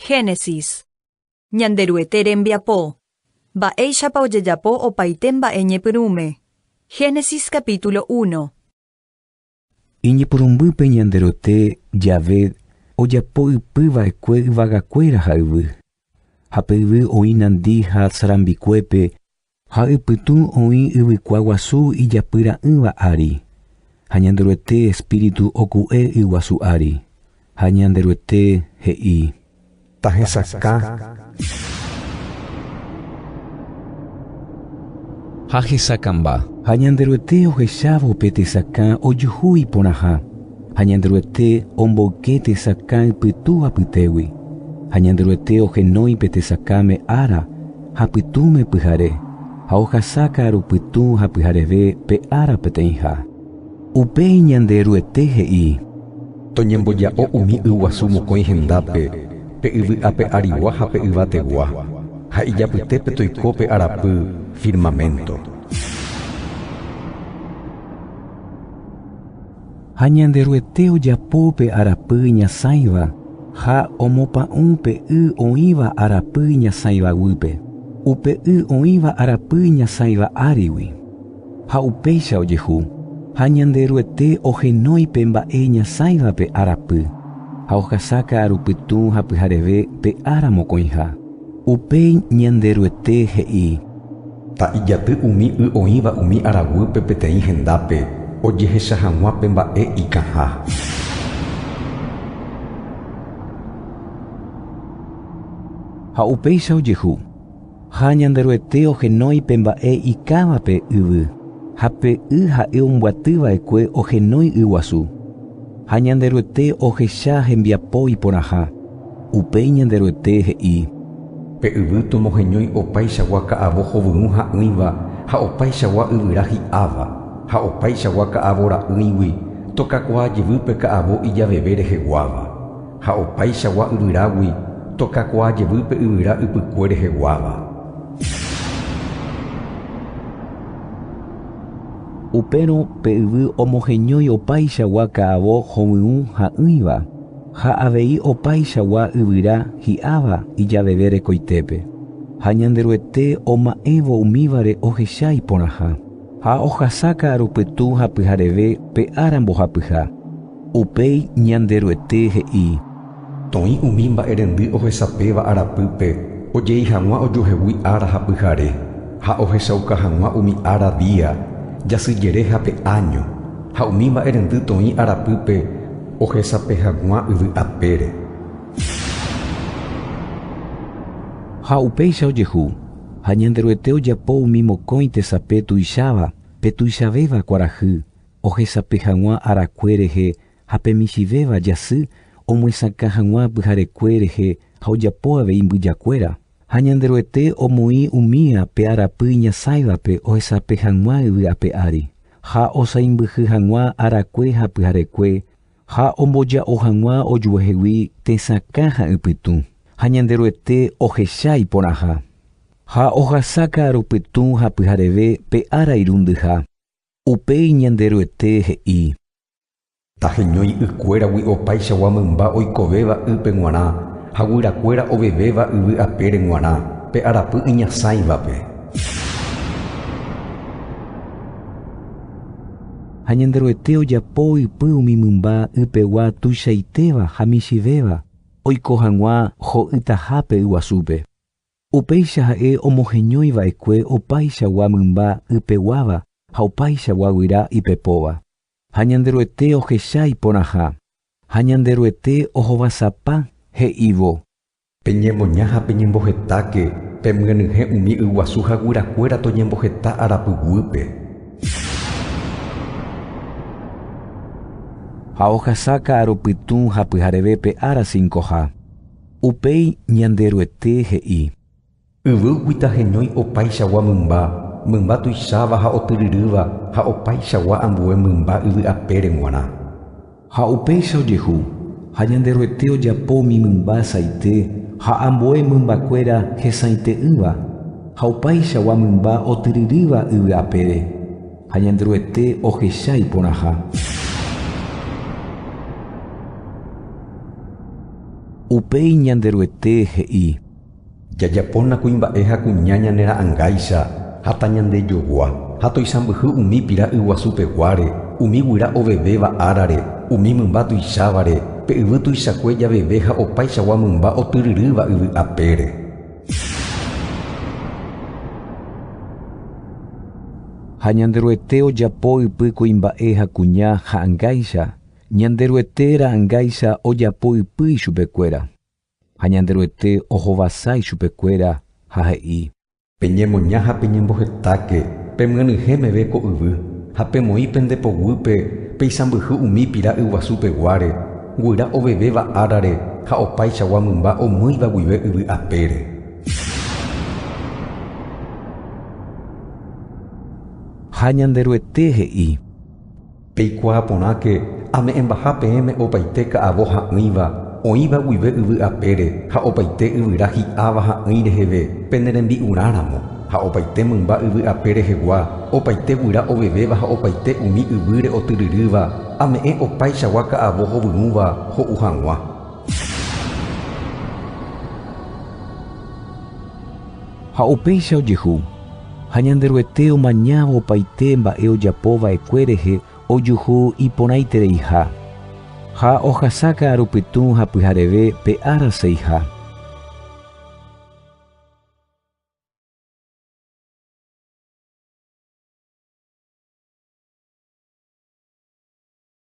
Génesis. Ñanderuete rembiapo. Mba'éichapa ojejapo opaite mba'e ñepyrũme. Génesis capítulo uno. Iñepyrũmbýpe Ñanderuete jave ojapo ypy va'ekue yvagakuéra ha yvy. Ha pe yvy oĩ nandi ha sarambikuépe Ha ypytũ oĩ yvykua guasu ijapyra'ỹva ári, ha Ñanderuete espíritu oku'e yguasu ári, ha Ñanderuete he'i. Tahesakã. Ha hesakãmba. Ha Ñanderuete ohechávo pe tesakã ojuhu iporãha, ha Ñanderuete omboyke tesakã ypytũ apytégui, ha Ñanderuete ohenói pe tesakãme ára, ha pytũme pyhare, ha ohasa ka'aru pytũ ha pyhareve pe ára peteĩha. Upéi Ñanderuete he'i. Toñemboja'o umi yguasu mokõi hendápe, pe yvy ape arigua ha pe yvategua, ha ijapytépe toiko pe arapy firmaménto. Ha Ñanderuete ojapo pe arapy iñasãiva ha omopa'ũ pe y oĩva arapy iñasãiva guýpe, upe y oĩva arapy iñasãiva árigui. Ha upéicha ojehu, ha Ñanderuete ohenói pe mba'e iñasãiva pe arapy, ha ohasa ka'aru pytũ ha pyhareve pe ára mokõiha. Upéi Ñanderuete he'i. Ha ijaty umi y oĩva umi araguýpe peteĩ hendápe ojehecha hag̃ua pe mba'e ikãha. Ha upéicha ojehu, ha Ñanderuete ohenói pe mba'e ikãva pe yvy, ha pe y ha'e ombyaty va'ekue ohenói y guasu. Ha Ñanderuete ohecha hembiapo iporãha. Upéi Ñanderuete he'i. Pe yvy tomoheñói opaichagua ka'avo hovyũ ha'ỹiva ha opaichagua yvyra hi'áva, ha opaichagua ka'avo ra'ỹigui tokakuaa jevýpe ka'avo ijaveve reheguáva, ha opaichagua yvyrágui tokakuaa jevýpe yvyra ypykue reheguáva. Upérõ pe yvy omoheñói opaichagua ka'avo hovyũ ha'ỹiva. ha avei opaichagua yvyra hi'áva ijaveve rekoitépe, ha Ñanderuete oma'ẽvo umívare ohecha iporãha, ha ohasa ka'aru pytũ ha pyhareve pe ára mbohapyha. Upéi Ñanderuete he'i. Toĩ umi mba'erendy ohesapéva arapýpe ojei hag̃ua ojuehegui ára ha pyhare, ha ohechauka hag̃ua umi ára, día, jasy jere ha pe áño, ha umi mba'erendy toĩ arapýpe, Ohesape haguã yvy apére. Ha upéicha ojehu, ha Ñanderuete ojapo umi mokõi tesape tuicháva, pe tuichavéva kuarahy, ohesape haguã arakue rehe, ha pe michĩvéva jasy, omyesakã haguã pyharekue rehe ha ojapo avei mbyjakuéra. Ha Ñanderuete omoĩ umi ape arapy iñasãivape ohesape hag̃ua yvy ape ári, ha osãimbyhy hag̃ua arakue ha pyharekue, ha omboja'o hag̃ua ojuehegui tesakã ha ypytũ, ha Ñanderuete ohecha iporãha. Ha ohasa ka'aru pytũ ha pyhareve pe ára irundyha. Upéi Ñanderuete he'i, Taheñói ykuéragui opaichagua mymba oikovéva ýpe g̃uarã ha guyrakuéra ovevéva yvy apére g̃uarã pe arapy iñasãivape. Ha Ñanderuete ojapo ypy umi mymba ypegua tuichaitéva ha michĩvéva oiko hag̃ua ho'ytahápe yguasúpe. Upéicha ha'e omoheñói va'ekue opaichagua mymba ypeguáva ha opaichagua guyra ipepóva. ha Ñanderuete ohecha iporãha, ha Ñanderuete ohovasapa, he'ívo. Peñemoña ha peñembohetáke, pemyenyhẽ umi yguasu ha guyrakuéra toñemboheta arapy guýpe. Ha ohasa ka'arõ pytũ ha pyharevépe ára cincoha. Upéi Ñanderuete he'i. Yvýgui taheñói opaichagua mymba, mymba tuicháva ha otyryrýva ha opaichagua ambue mymba yvy apére g̃uarã. Ha upéicha ojehu, ha Ñanderuete ojapo umi mymba asaite ha ambue mymbakuéra hesãite'ỹva, ha opaichagua mymba otyryrýva yvy apére, ha Ñanderuete ohecha iporãha. Upéi Ñanderuete he'i. Jajapóna kuimba'e ha kuña ñane ra'angáicha ha tañandejogua, ha toisãmbyhy umi pira yguasu peguáre, umi guyra ovevéva árare, umi mymba tuichávare, pe yvy tuichakue javeve ha opaichagua mymba otyryrýva yvy apére. Ha Ñanderuete ojapo ypy kuimba'e ha kuña ha'angáicha, Ñanderuete ra'angáicha ojapo ypy ichupekuéra. Ha Ñanderuete ohovasa ichupekuéra ha he'i. Peñemoña ha peñembohetáke pemyanyhẽ meve ko yvy, ha pemoĩ pende poguýpe peisãmbyhy umi pira yguasu peguáre, guyra ovevéva árare ha opaichagua mymba omýiva guive yvy apére. Ha Ñanderuete he'i. Peikuaa porãke ame'ẽmbaha peẽme opaite ka'avo ha'ỹiva oĩva guive yvy apére ha opaite yvyra hi'áva ha'ỹi reheve pene rembi'urã ramo, ha opaite mymba yvy ape rehegua, opaite guyra ovevéva ha opaite umi yvýre otyryrýva, ame'ẽ opaichagua ka'avo hovyrũva ho'u hag̃ua. Ha upéicha ojehu. Ha Ñanderuete omañávo opaite mba'e ojapo va'ekue rehe ojuhu iporãitereiha, ha ohasa ka'aru pytũ ha pyhareve pe ára seiha.